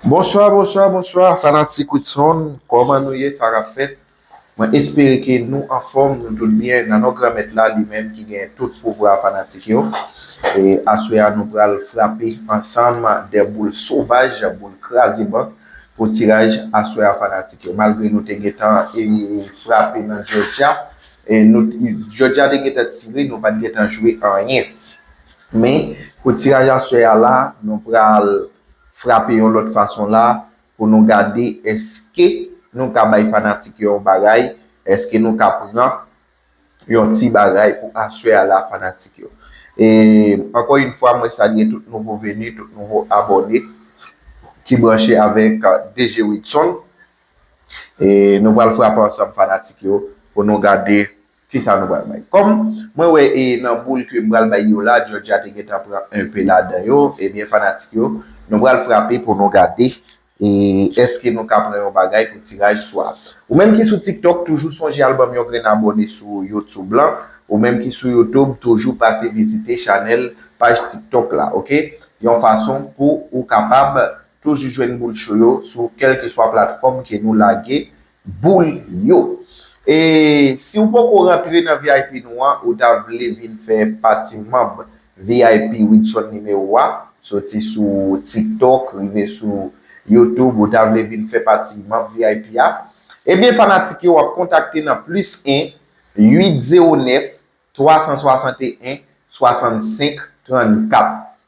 Bonswa bonswa bonswa fanatik Widson kòman nou ye sa kap fèt mwen espere ke nou anfòm nou tout byen nan non granmèt la li menm ki gen tout pouvwa fanatik yo e aswè a nou pral frape ansanm de boul sovaj boul kraze bank pou tiraj aswè a fanatik yo malgre nou te gentan frape nan jòjya jòjya te gentan tire nou pat gentan jwe anyen. Men, pou tiraj aswè a la, nou pral frape yon lòt fason la pou nou gade èske nou ka bay fanatik yo yon bagay, èske nou ka pran yon ti bagay pou aswè a la fanatik yo. E, ankò yon fwa, mwen salye tout nouvo veni, tout nouvo abòne ki branche avèk DG Widson. E, nou pral frape ansanm fanatik yo pou nou gade. Kisa nou pral bay? Kòm mwen wè e nan boul ke m pral bay yo la, Georgia te gentan pran enpe ladan yo, ebyen fanatik yo, nou pral frape pou nou gade e èske nou ka pran yon bagay pou tiraj swa. Ou menm ki sou tiktok toujou sonje al banm yon grenn abòne sou youtube lan, ou menm ki sou youtube toujou pase vizite chanèl, paj tiktok la ok, yon fason pou ou kapab toujou jwenn boul cho yo sou kèlkeswa platfòm ke nou lage. boul yo. E si ou poko rantre nan vip nou an ou ta vle vin fè pati manb vip Widson Numéro a soti sou tiktok rive sou YouTube ou ta vle vin fè pati manb vip a ebyen fanatik yo wap kontakte nan plis 1 8 0 9 361 65 34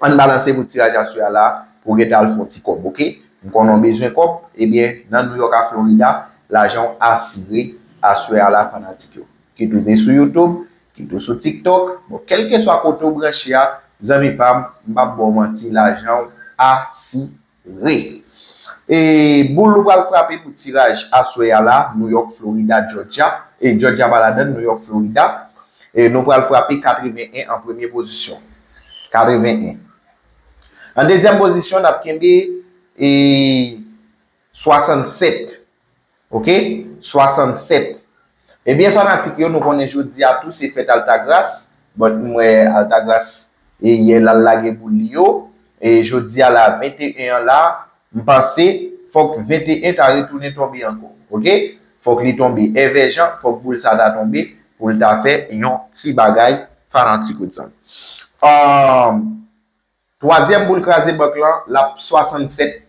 Ann balanse pou tiraj a swa la pou gen tan al fon ti kòb ok m konnen w bezwen kòb ebyen nan New York a Florida lajan w asire aswè a la fanatik yo kit ou vin sou YouTube kit ou sou TikTok bon kèlkeswa kote w branche a zanmi pam m pap ba w manti lajan w asi. Re. E boul ou pral frape pou tiraj aswè a la, Nouyòk, Florida, Jòjya, e Jòjya pa ladann, Nouyòk, Florida, e nou pral frape 81 an premye pozisyon. 81. An dezyèm pozisyon, n ap kenbe e 67. Ok 67 Ebyen fanatik yo nou konnen jodia tou se fèt Altagras but m wè Altagras e yè lal lage boul li yo e jodia la 21 an la m panse fòk 21 ta retounen tonbe ankò ok fòk li tonbe èvèjan fòk boul sa ta tonbe poul ta fè yon ti bagay fanatik Woodson Aah. Twazyèm boul kraze bank lan, l ap 67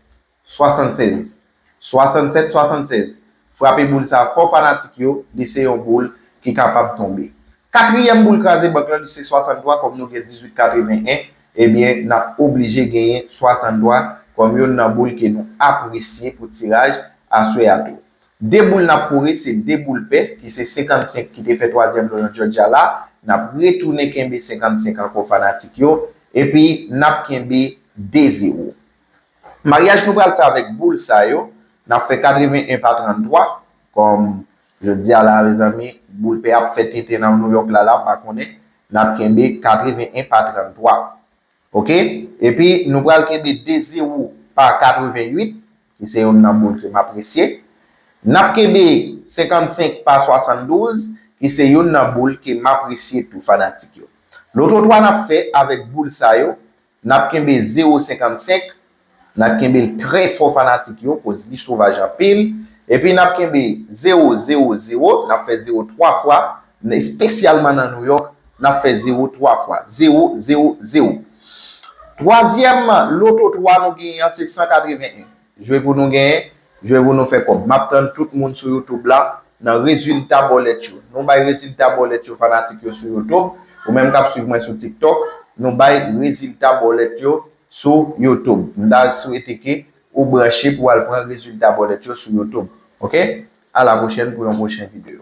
76 67 76 Frape boul sa fò fanatik yo, li se yon boul ki kapab tonbe. Katriyèm boul kraze bank lan li se 63 kòm nou gen 18 81 ebyen n ap oblije genyen 63 kòm youn nan boul ke nou apresye pou tiraj aswè a tou. De boul n ap kore se de boul pè ki se 55 ki te fè twazyèm nan yon Djòdja la, n ap retounen kenbe 55 ankò fanatik yo, epi n ap kenbe 2 zewo. Maryaj nou pral fè avèk boul sa yo, n ap fè 81 pa 33, kòm jodi a la mezanmi boul pè ap fè tenten nan Nouyòk la la m pa konnen, n ap kenbe 81 pa 33. Ok epi nou pral kenbe 2 zero pa 88 ki se youn nan boul ke m apresye. N ap kenbe 55 pa 72 ki se youn nan boul ke m apresye tou fanatik yo. Lototwa n ap fè avèk boul sa yo, n ap kenbe zero 55 Nap kenbe l trè fò fanatik yo koz li sovaj anpil epi nap kenbe 0 0 0 nap fè 0 3 fwa espesyalman nan Nouyòk nap fè 0 3 fwa 0 0 0 Twazyèm loto 3 nou genyen an se 181 jwe pou nou genyen jwe pou nou fè kòb map tann tout moun sou youtube la nan rezilta bòlèt yo nou bay rezilta bòlèt yo fanatik yo sou youtube ou menm kap swiv mwen sou tiktok nou bay rezilta bòlèt yo sou youtube m ta swete ke ou branche pou al pran rezilta bòlèt yo sou youtube ok a la pwochèn pou yon pwochen video.